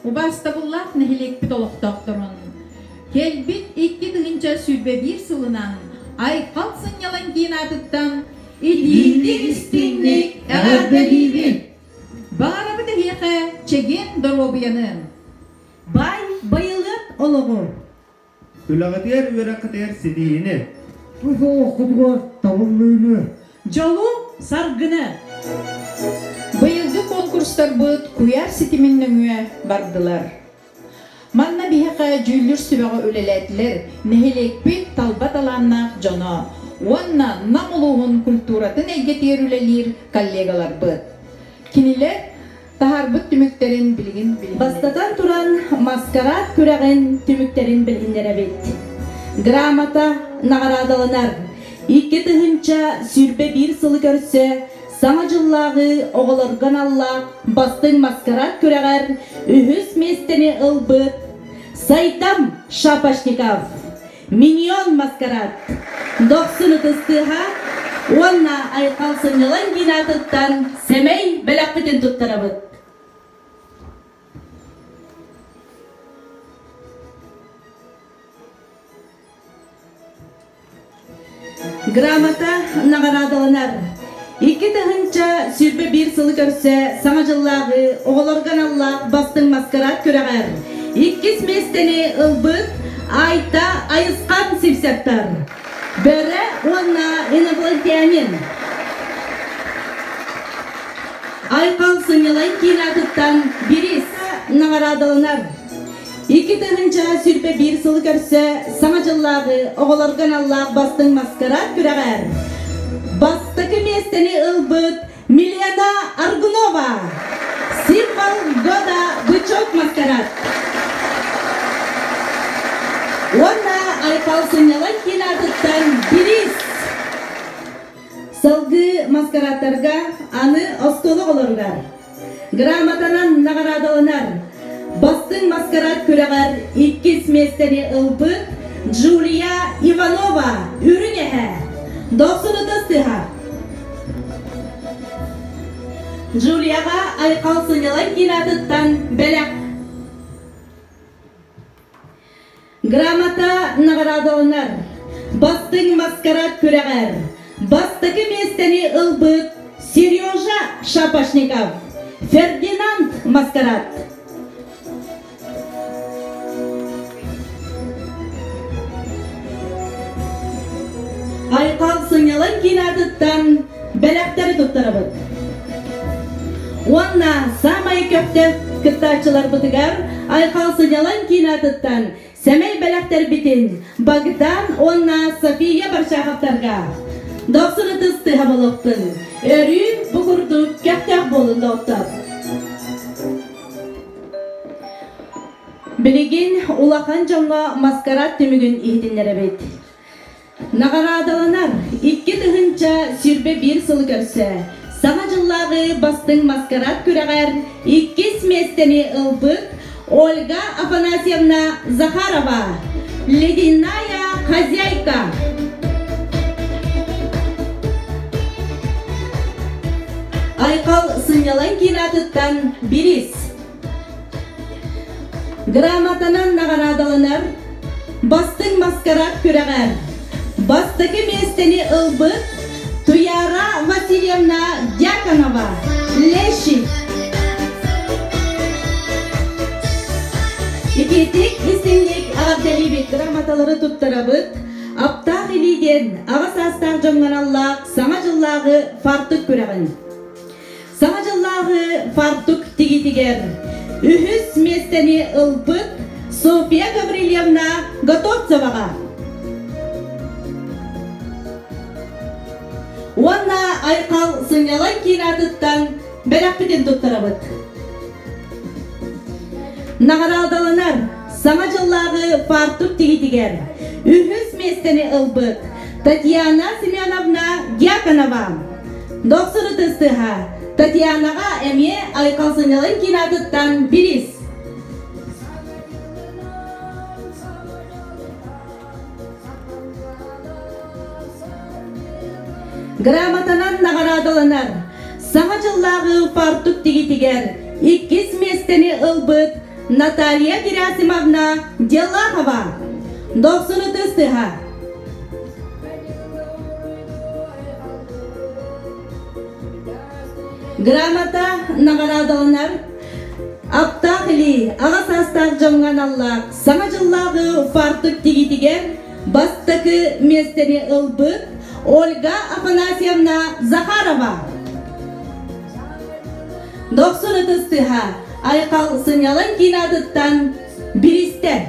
Убаастабыллаах нэһилиэкпит олохтоохторун! Кэлбит икки тыһыынча сүүрбэ биир сылынан Айхал сынньалаҥ киин аатыттан итиитик-истиҥник эҕэрдэлиибит! Баҕарабыт эһиэхэ чэгиэн доруобуйанын! Бай, байылыат олоҕу! Үлэҕитигэр үөрэххитигэр ситиһиини! Туох олоххутугар талыллыыны! Дьолу, саргыны! Быйылгы конкурстарбыт куйаар ситимин нөҥүө бардылар. Манна биһиэхэ дьүүллүүр сүбэҕэ үлэлээтилэр нэһилиэкпит талба талааннаах дьоно уонна Нам улууһун культуратын эйгэтигэр үлэлиир коллегаларбыт. Кинилэр таһаарбыт түмүктэрин билигин билинэбит. Бастатан туран, маскарад күрэҕин түмүктэрин билиннэрэбит. Грамота наҕараадаланар. Икки тыһыынча сүүрбэ биир сылы көрсө Саҥа дьыллааҕы оҕолорго аналлаах бастыҥ маскарад күрэҕэр үһүс миэстэни ылбыт Сайдам Шапошников миньон маскарад дохсун ытыс тыаһа уонна айхал сынньалаҥ киин аатыттан сэмэй бэлэхпитин туттарабыт Грамота наҕараадаланар. Икки тыһыынча сүүрбэ биир сылы көрсө Саҥа дьыллааҕы оҕолорго аналлаах бастыҥ маскараат күрэҕэр иккис миэстэни ылбыт Айта Айысхан сипсэптар. Бөрө уонна инопланетянин Айхал сынньалаҥ киин аатыттан бириис наҕараадаланар. Икки тыһыынча сүүрбэ биир сыл көрсө саҥа дьыллааҕы оҕолорго аналлаах бастыҥ маскарад күрэҕэр бастакы миэстэни ылбыт Милена Аргунова символ года бычок маскарад уонна Айхал Саньяланкин аатыттан бириис салгыы маскарадтарга аны оскуола оҕолоругар Грамотанан наҕараадаланар Бастыҥ маскарад күрэҕэр иккис миэстэни ылбыт Джулия Иванова үрүҥ эһэ дохсунута сыһа Джулияҕа Айхал сынньалаҥ киин аатыттан бэлэх Грамота наҕараадаланар. Бастыҥ маскарад күрэҕэр бастакы миэстэни ылбыт Сережа Шапошников. Фердинанд маскарад. Айхал сынньалаҥ киин аатыттан бэлэхтэри туттарабыт. Уонна самай көхтөөх кыттааччыларбытыгар Айхал сынньалаҥ кинотыттан сэмэй бэлэхтэрбитин Богдан уонна София Баршаховтарга дохсун ытыс тыһа болохтун өрүүн бу курдук көхтөөх буолун доҕоттор. Билигин улахан дьоҥҥо маскарад түмүгүн иһитиннэрэбит. Наҕараадаланар икки тыһыынча сүүрбэ биир сыл көрсө Саҥа дьыллааҕы бастыҥ маскарад күрэҕэр иккис миэстэни ылбыт Ольга Афанасьевна Захарова «Ледяная хозяйка» Айхал сынньалаҥ киин аатыттан бириис Грамотанан наҕараадаланар Бастыҥ маскараат күрэҕэр бастакы миэстэни ылбыт Туяра Васильевна Дьяконова Лещик Итиитик истиҥник эҕэрдэлиибит грамоталары туттарабыт аптаах илии диэн аҕа саастаах дьоҥҥо аналлаах Саҥа дьыллааҕы фартук күрэҕин Саҥа дьыллааҕы фартук тигитигэр үһүс миэстэни ылбыт Софья Гаврильевна Готовцеваҕа уонна Айхал сынньалаҥ киин аатыттан бэлэхпитин туттарабыт. Наҕараадаланар Саҥа дьыллааҕы фартук тигитигэр үһүс миэстэни ылбыт Татьяна Семеновна Дьяконова Доктор ытыстыһа, Татьянаҕа эмиэ айылҕалсынньалаҥ киин аатыттан бириис. Грамотанан наҕараадаланар Саҥа дьыллааҕы паартук тигитигэр иккис миэстэни ылбыт Наталья Герасимовна Делахова, дохсун ытыстыһа. Грамота наҕараадаланар аптаах илии аҕа саастаах дьоҥҥо аналлаах Саҥа дьыллааҕы фартук тигитигэр бастакы миэстэни ылбыт Ольга Афанасьевна Захарова. Дохсун ытыс тыһа Айхал сынньалаҥ киинэ атыттан биристэр.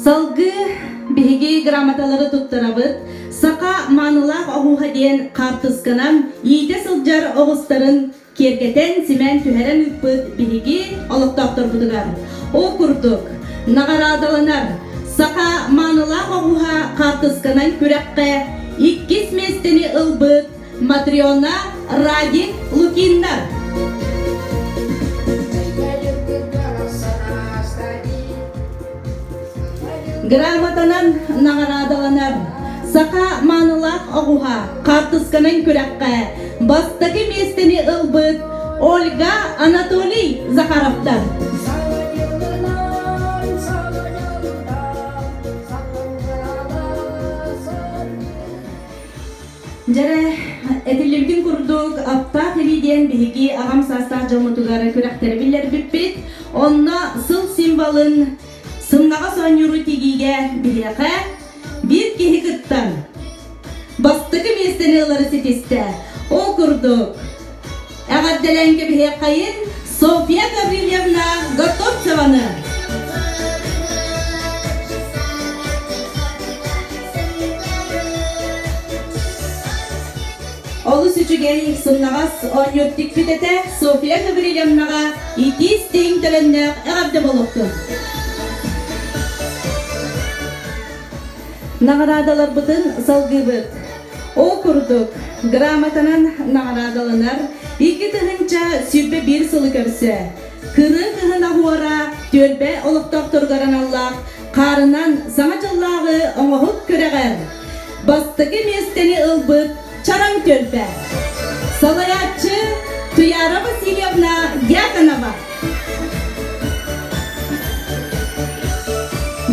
Салгыы биһиги грамоталары туттарабыт. Саха маанылаах оһууһа диэн хаартысканан иитэ сылдьар оҕустарын киэргэтэн, симэн, түһэрэн ыыппыт биһиги олохтоохторбутугар. Ол курдук, наҕараадаланар Саха маанылаах оҕуһа хаартысканан күрэххэ иккис миэстэни ылбыт Матрена Радин Лукиннар Грамотанан наҕараадаланар Саха маанылаах оҕуһа хаартысканан күрэххэ бастакы миэстэни ылбыт Ольга Анатолий Захаровтар Дьэрэ, этиллибитин курдук, Аптаах илии диэн биһиги аҕам саастаах дьоммутугар күрэхтэри биллэрбиппит. Онно сыл символын сымнаҕас оонньууру тигиигэ биһиэхэ биир киһи кыттан бастакы миэстэни ылары ситистэ. Ол курдук, Эҕэрдэлээн кэбиһиэххэйин Софья Гаврильевна Готовцеваны! Олус үчүгэй, сымнаҕас оонньуур тикпит этэ Софья Гаврильевнаҕа итиис-тииҥ төлөннөөх эҕэрдэ болуохтун! Наҕараадаларбытын салгыыбыт! Ол курдук, грамотанан наҕараадаланар икки тыһыынча сүүрбэ биир сылы көрсө, кырыы кыһын аһуора түөлбэ олохтоохторугар аналлаах хаарынан саҥа дьыллааҕы оҥоһук күрэҕэр бастакы миэстэни ылбыт Чараҥ түөлбэ. Салайааччы Туяра Васильевна Дьяконова.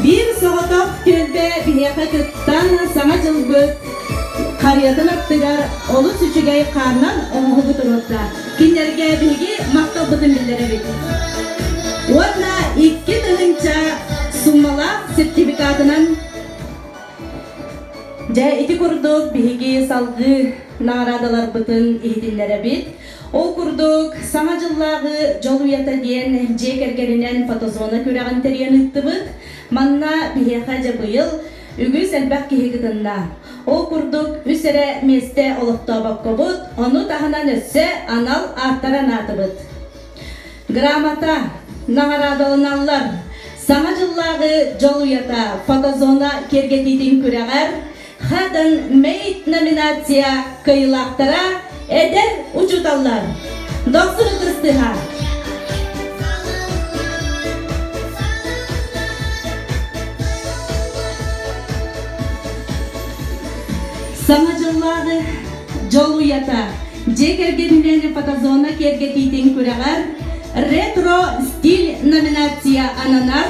Биир соҕотох түөлбэ биһиэхэ кыттан Саҥа дьылбыт харыйатын аттыгар олус үчүгэй хааннан оҥоһугу туруорда. Кинилэргэ биһиги махталбытын биллэрэбит. Уонна икки тыһыынча суммалаах сертификатынан Дьэ, ити курдук биһиги салгыы наҕараадаларбытын иһитиннэрэбит. Ол курдук, Саҥа дьыллааҕы дьол уйата диэн дьиэ кэргэнинэн фотозона күрэҕин тэрийэн ыыттыбыт. Манна биһиэхэ дьэ быйыл үгүс элбэх киһи кытынна. Ол курдук, үс эрэ миэстэ олохтообоккобут, ону таһынан өссө анал ааттары анаатыбыт. Грамота, наҕараадаланаллар. Саҥа дьыллааҕы дьол уйата фотозона киэргэтиитин күрэҕэр Хатан Мейт номинация кыайыылаахтара эдэр учууталлар. Дохсун ытыстыһа. Саҥа дьыллааҕы дьол уйата дьиэ кэргэнинээн фотозона киэргэтиитин күрэҕэр ретро стиль номинация ананар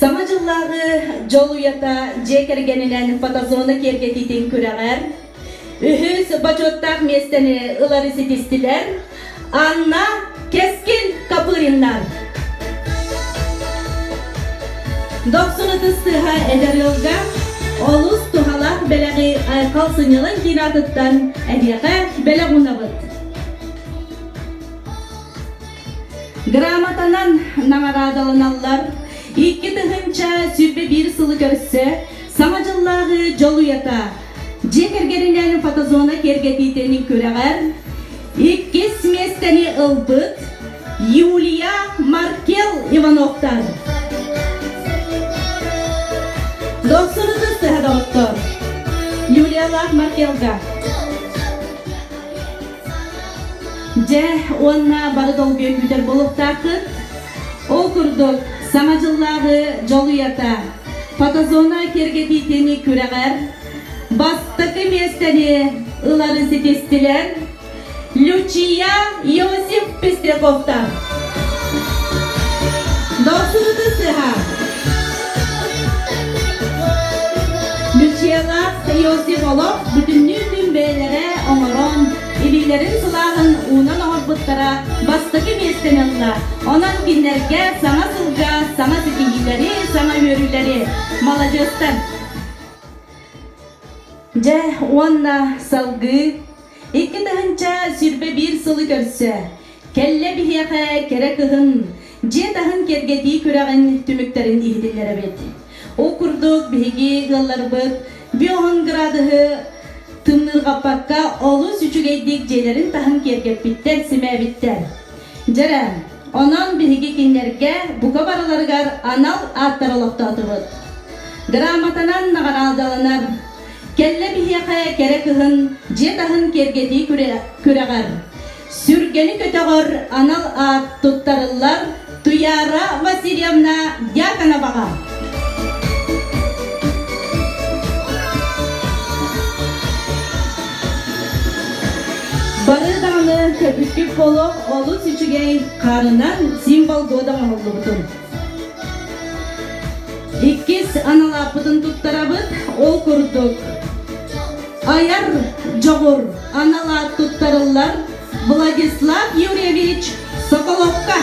Саҥа дьыллааҕы дьол уйата дьиэ кэргэнинэн фотозона киэргэтиитин күрэҕэр үһүс бочуоттаах миэстэни ылары ситистилэр Анна Кескин Копыриннар Дохсун ытыс сыһа эдэр ыалга олус туһалаах бэлэҕи Айкал сынньалаҥ диэн аатыттан эһиэхэ бэлэх уунабыт Грамотанан наҕараадаланаллар. Икки тыһыынча сүүрбэ биир сылы көрсө Саҥа дьыллааҕы дьолуйата. Дьиэ кэргэнинээн фотозона киэргэтиитин күрэҕэр иккис миэстэни ылбыт Юлия Маркел Ивановтар. Дохсунутут төһө доҕоттор? Юлиялаах Маркелга. Дьэ, уонна бары долгуйан бүтэр буолуохтааххыт. Ол курдук, Саҥа дьыллааҕы дьолуйата, фотозона киэргэтиитин күрэҕэр бастакы миэстэни ыларын ситистилэр. Лючия Иосиф Пестряковтар Досуһута сыһа. Люциялаах Иосиф олох бүтүннүү күн бэйэлэрэ оҥорон, илиилэрин сылааһын уунан оҥорбуттара бастакы миэстэни ылла. Онон кинилэргэ саҥа сылга саҥа ситиһиилэри, саҥа үөрүүлэри. Маладьыастар! Дьэ, уонна салгыы Икки тыһыынча сүүрбэ биир сылы көрсө, кэллэ биһиэхэ кэрэ кыһын, дьиэ таһын кэргэтии күрэҕин түмүктэрин иһитиннэрэбит. Ол курдук биһиги ыалларбыт биоһун градуһу тымныырҕаппакка олус үчүгэйдик дьиэлэрин таһын киэргэппиттэр, симээбиттэр. Дьэрэ, онон биһиги кинилэргэ бука барыларыгар анал ааттары олохтоотубут. Грамотанан наҕараадаланар Кэллэ биһиэхэ кэрэ кыһын дьиэ таһын киэргэтии күрэҕэр. Сүргэни көтөҕөр анал аат туттарыллар Туяра Васильевна Дьяконоваҕа. Бары даҕаны көбүттүк болох олус үчүгэй хаарынан символ года оҥоһуллубутун. Иккис аналааппытын туттарабыт. Ол курдук Айар Дьоҕур аналаат туттарыллар. Владислав Юрьевич Соколовка.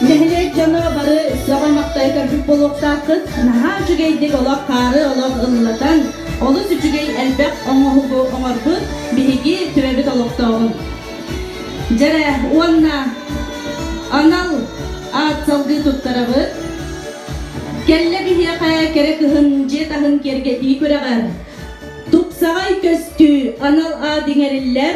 Нэһилиэк дьоно бары сөҕө-махтайа көрбүт буолуохтааххыт. Наһаа үчүгэйдик олох хаары олох ыллатан, Олус үчүгэй элбэх оҥоһугу оҥорбут биһиги төрөбүт олохтооҕун. Дьэрэ уонна анал аат салгыы туттарабыт. Кэллэ биһиэхэ кэрэ кыһын дьиэ таһын киэргэтии күрэҕэр тупсаҕай көстүү анал аат иҥэриллэр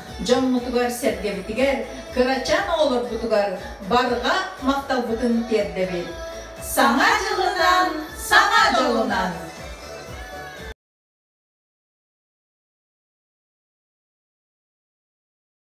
дьоммутугар-сэргэбитигэр, кырачаан оҕолорбутугар барҕа махталбытын тиэрдэбит. Саҥа дьылынан, саҥа дьылынан!